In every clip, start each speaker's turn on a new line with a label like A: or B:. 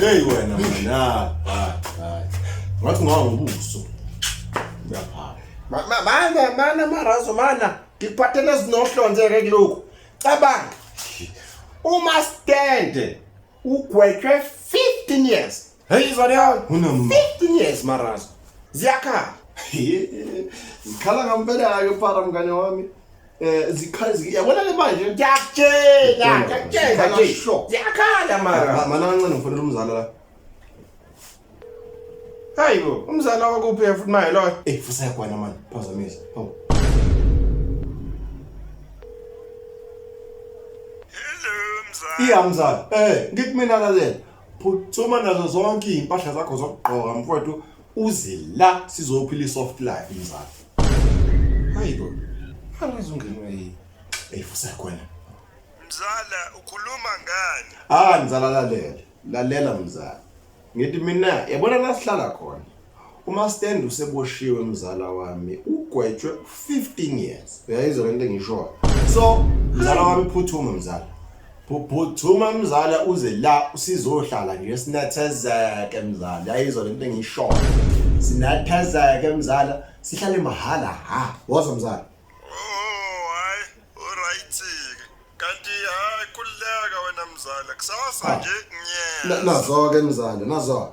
A: Hey wena mna ngathi ngawa ngobuso uyaphala mana mana marazo
B: mana ngikuphathele ezinohlonzeke kulokhu cabanga uma stande ugwetshwe 15 years Hey Zarian, unum 15 years maraz. Ziyakhala.
A: Zikhala ngampela ke para mngane wami. Eh zikhala yabona le manje. Ngiyakutshela,
B: ngiyakutshela nje. Ziyakhala mara. Mana kancane ngifonela umzala
A: la.
B: Hayibo, umzala wakuphi futhi maye loyo? Eh futhi yakwana manje.
A: Phazamisa. Hawu. Hello mzala.
C: Iya mzala. Eh,
A: ngithi mina lalela. phuthuma nazo zonke iy'mpahla zakho zokugqoka mfowethu uze la sizophila i-soft life mzala hayi bo angize ungenwe yini eyifusa khona mzala
C: ukhuluma ngani ah mzala lalela
A: lalela mzala ngithi mina yabona la sihlala khona Umastende useboshiwe mzala wami ugwetshwe 15 years. Uyayizwa lento engishoyo. So mzala wami phuthuma mzala. Phuthuma mzala uze la usizohlala nje sinathezeke mzala. Uyayizwa lento engishoyo. Sinathezeke mzala sihlale mahhala ha. Wozwa mzala.
C: mzala kusasa nje ngiyeza nazo-ke mzala
A: nazo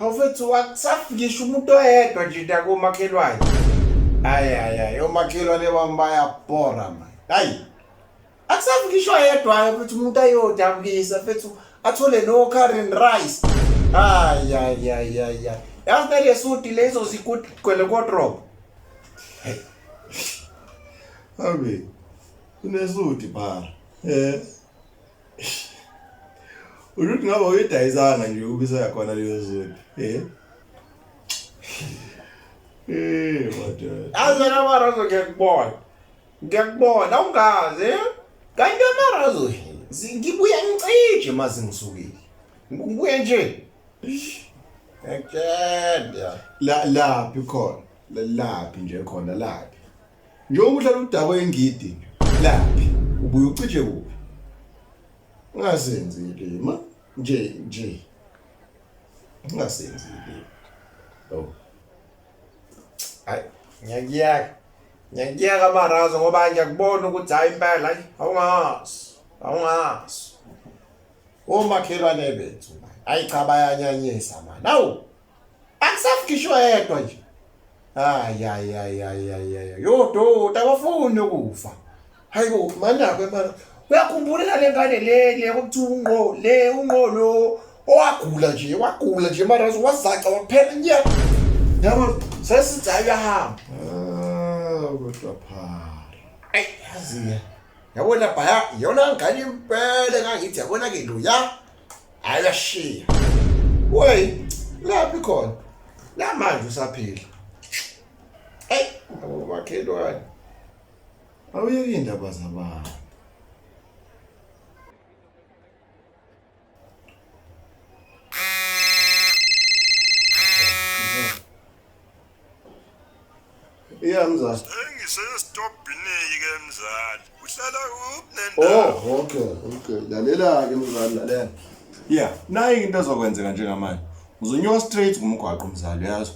B: Awufethu wakusafikisha umuntu oyedwa nje nda komakhelwane. Hayi hayi hayi omakhelwane bami bayabhora manje. Hayi. Akusafikishwa yedwa futhi umuntu ayodabukisa fethu athole no current rice. Hayi hayi hayi hayi. Yazi nale suti lezo zikuthi gcwele kodrop.
A: Abi. Unesuti bara. Eh. Uruth ngabe uyidayisanga nje ubisa yakhona leyo zulu eh eh madoda azana marazo
B: ngiyakubona ngiyakubona awungazi eh? kanti amarazo ngibuya ngicije mazi ngisukile ngibuye nje ngiyakutshela la laphi
A: khona laphi nje khona laphi Njengoba uhlala udakwe ingidi laphi ubuye ucije kuphi? Ungasenzi ilima nje nje. Ungasenzi ilima. Oh.
B: Hayi, ngiyakuyaka. Ngiyakuyaka amarazo ngoba ngiyakubona ukuthi hayi impela hayi awungazi. Awungazi. Omakhelwane bethu. Hayi cha bayanyanyisa manje. Awu, Akusafikishwa yedwa nje. Hayi hayi hayi hayi hayi. Yo dota abafuni ukufa. Hayi bo manako emara. Uyakhumbula le ngane le le ukuthi unqo le unqo lo owagula nje wagula nje mara wazaca waphela nya. Yabo sesithi hayi uyahamba.
A: Ah kodwa pha. Ay yazi.
B: Yabona baya yona ngane impela kangithi yabona ke lo ya. hayi uyashiya wey laphi khona namanje usaphila eyi abomakhelwane
A: awuyeki indaba zabantu iya mzali
C: engisestobhineki ke mzali uhlala kuphi nendawo oh okay okay
A: lalela ke mzali lalela yeah nayi into ezokwenzeka njengamanje uzonyuka straight kumgwaqo mzali yazi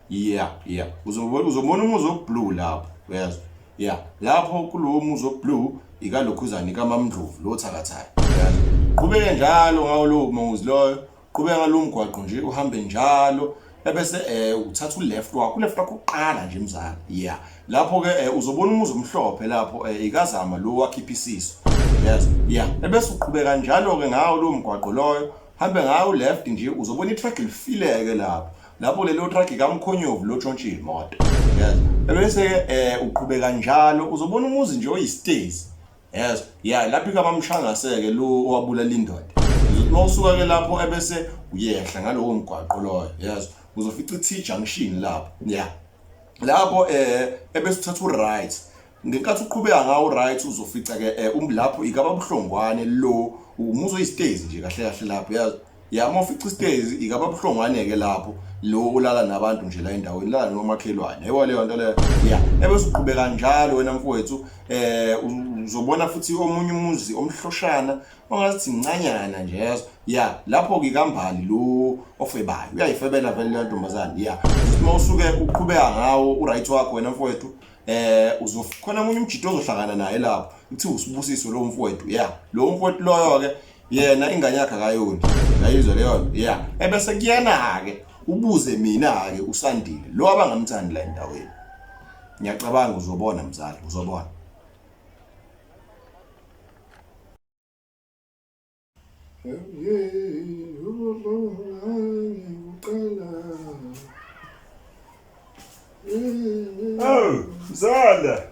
A: yeah yeah uzobona uzobona umuzi oblue lapho yazi yeah lapho kulowo muzi oblue ikalokhuzana ikamamndlovu lo thakathayo yazi qhubeke njalo ngawo lowo muzi loyo Qhubeka ngalo mgwaqo nje uhambe njalo ebese eh uthatha uleft wakho uleft wakho uqala nje mzala yeah lapho ke eh, uzobona umuzi omhlophe lapho eh, ikazama lo wakhipha isiso yes yeah ebese uqhubeka njalo ke ngawo lo mgwaqo loyo hambe ngawo left nje uzobona itruck lifileke lapho lapho lelo truck kamkhonyovu lo tshontshe imoto yes ebese eh uqhubeka njalo uzobona umuzi nje oyistezi yes ya lapho ikamamshangaseke lo owabulala indoda uma usuka ke lapho ebese uyehla ngalowo mgwaqo loyo yes uzofica i-t junction lapho ya lapho eh ebese uthatha u-right ngenkathi uqhubeka ngawo right uzofica ke eh, um lapho ikababuhlongwane lo umuzo istage nje kahle kahle lapho yazi Ya uma ufica isitezi ikaba buhlongwane-ke lapho lo ulala nabantu nje la endaweni lala nomakhelwane ayiwa leyo nto leyo ya ebese uqhubeka njalo wena mfowethu um uzobona futhi omunye umuzi omhloshana ongathi mncanyana nje yazo ya lapho-ke kambali lo ofebayo uyayifebela vele leyo ntombazane ya uma usuke uqhubeka ngawo uright wakho wena mfowethu eh uzokhona umunye umjito ozohlangana naye lapho uthi usibusiso lo mfowethu ya lo mfowethu loyo ke yena ingane yakhe akayoni yayizwa leyo nto ya ebese kuyena-ke ubuze mina-ke usandile lo abangamthandi la endaweni ngiyacabanga uzobona mzali uzobona
C: Oh, Zala!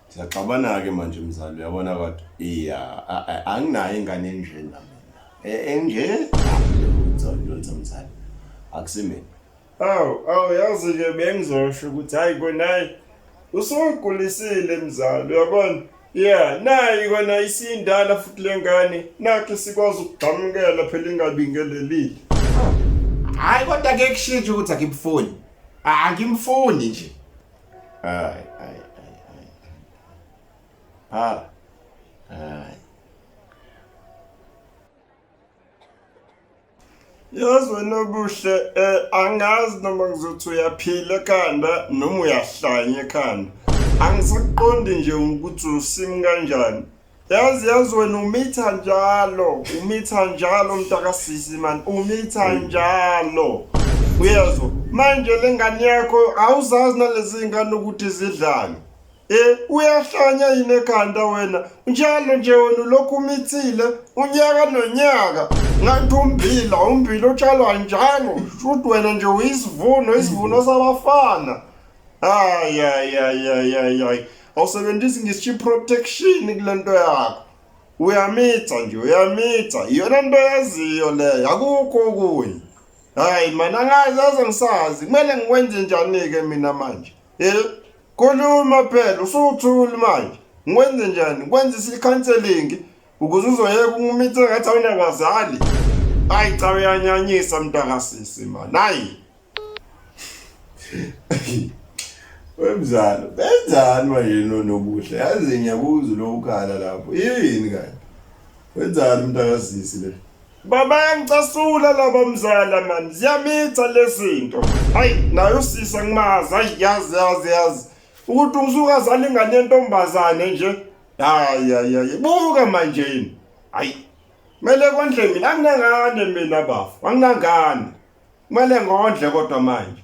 A: Siyaxabana-ke manje mzali uyabona kodwa iya anginayo ingane enje nami e, enje uzolutha mzali akusimina awu
C: awu yazi-ke bengizosho ukuthi hhayi konayi usugulisile mzali uyabona ya nayi kona isiyindala futhi le ngane nakhe sikwazi ukugxamukela phela ingabingelelile
B: hhayi kodwa ke kushintsha ukuthi akimfuni angimfuni nje Ay,
A: ay, ay, ay. Phala. Ay.
C: Yazi wena obuhle eh angazi noma ngizothi uyaphila ekhanda noma uyahlanya ekhanda. Angisiqondi nje ukuthi usim kanjani. Yazi yazi wena umitha njalo, umitha njalo mntakasisi man, umitha njalo. Uyezwa? Manje lengane yakho awuzazi nalezi zingane ukuthi zidlani. Eh uyahlanya yini ekhanda wena? Njalo nje wena lokhu umithile unyaka nonyaka. Ngathi umbila, umbila utshalwa njalo. Shuthi wena nje uyisivuno, isivuno sabafana. Ay ay ay ay ay ay. Awusebenzisi ngisho protection kulento yakho. Uyamitha nje uyamitha. Iyona nto yaziyo leyo. Akukho okunye. Hayi mana ngazi aze ngisazi. Kumele ngikwenze njani ke mina manje? Eh? Khuluma phela usuthuli manje. Ngikwenze njani? Kwenza isicounseling ukuze uzoyeka ungumithe ngathi awunabazali. Hayi cha uyanyanyisa mntakasisi man. Hayi.
A: wemzalo benzani manje nonobuhle yazi ngiyakuza lo ukhala lapho yini kanti wenzani umuntu akazisi le baba
C: ngicasula laba mzala mani ziyamitha lezinto hayi nayo sisa ngimazi hayi yazi yazi yazi ukuthi ungizukazana ingane yentombazane nje hayi hayi hayi buka manje yini hayi mele kondle mina anginangane mina bafu anginangane Kumele ngondle kodwa manje.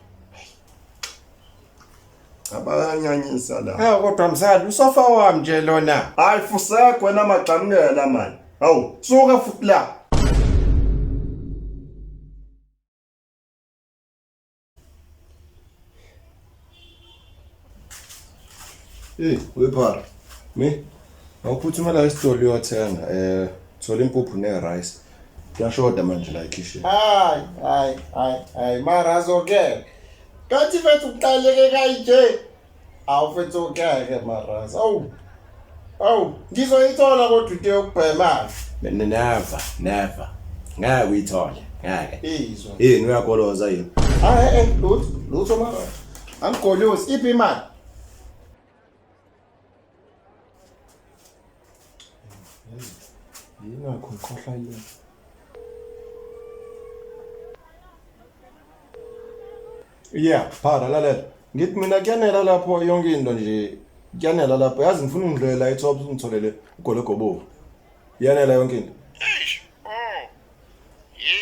C: Abayanyanyisa la. Hawu kodwa mzali usofa
B: wami nje lona. Hayi fusego
C: wena magxamukela manje. Hawu suka futhi la.
A: Hey, wephara. Me? Awuphuthuma la esitolo uyothenga eh thola impuphu ne rice. Kuyashoda manje la ekhishini. Hayi, hayi, hayi,
B: hayi, mara azokela. Kanti mfethu uqaleke kanje. Awu mfethu ukeke mara. Awu. Awu, ngizoyithola kodwa into yokubhema. Never,
A: never. Ngeke uyithole. Ngeke. Izwa. Yini
B: uyagoloza
A: yini? Ah, eh, eh, lutho,
B: lutho mara. Angigolozi iphi imali?
A: Yingakho ngikhohlwa yini? yeah phara lalela ngithi mina kuyanela lapho yonke into nje kuyanela lapho yazi ngifuna ungidlela ethops ungitholele ugologobovu yanela yonke into eish
C: oh
A: ye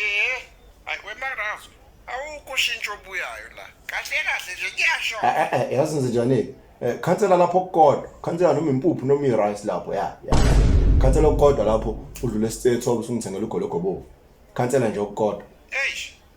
C: akwemarazo awukho shintsho obuyayo la kahle kahle nje kuyasho Eh, eh, eh, yazi ngize njani Eh,
A: khansela lapho kukodwa khansela noma impuphu noma i-rice lapho ya ya khansela okukodwa lapho udlule esithethops ungithengela ugologobovu khansela nje okukodwa eish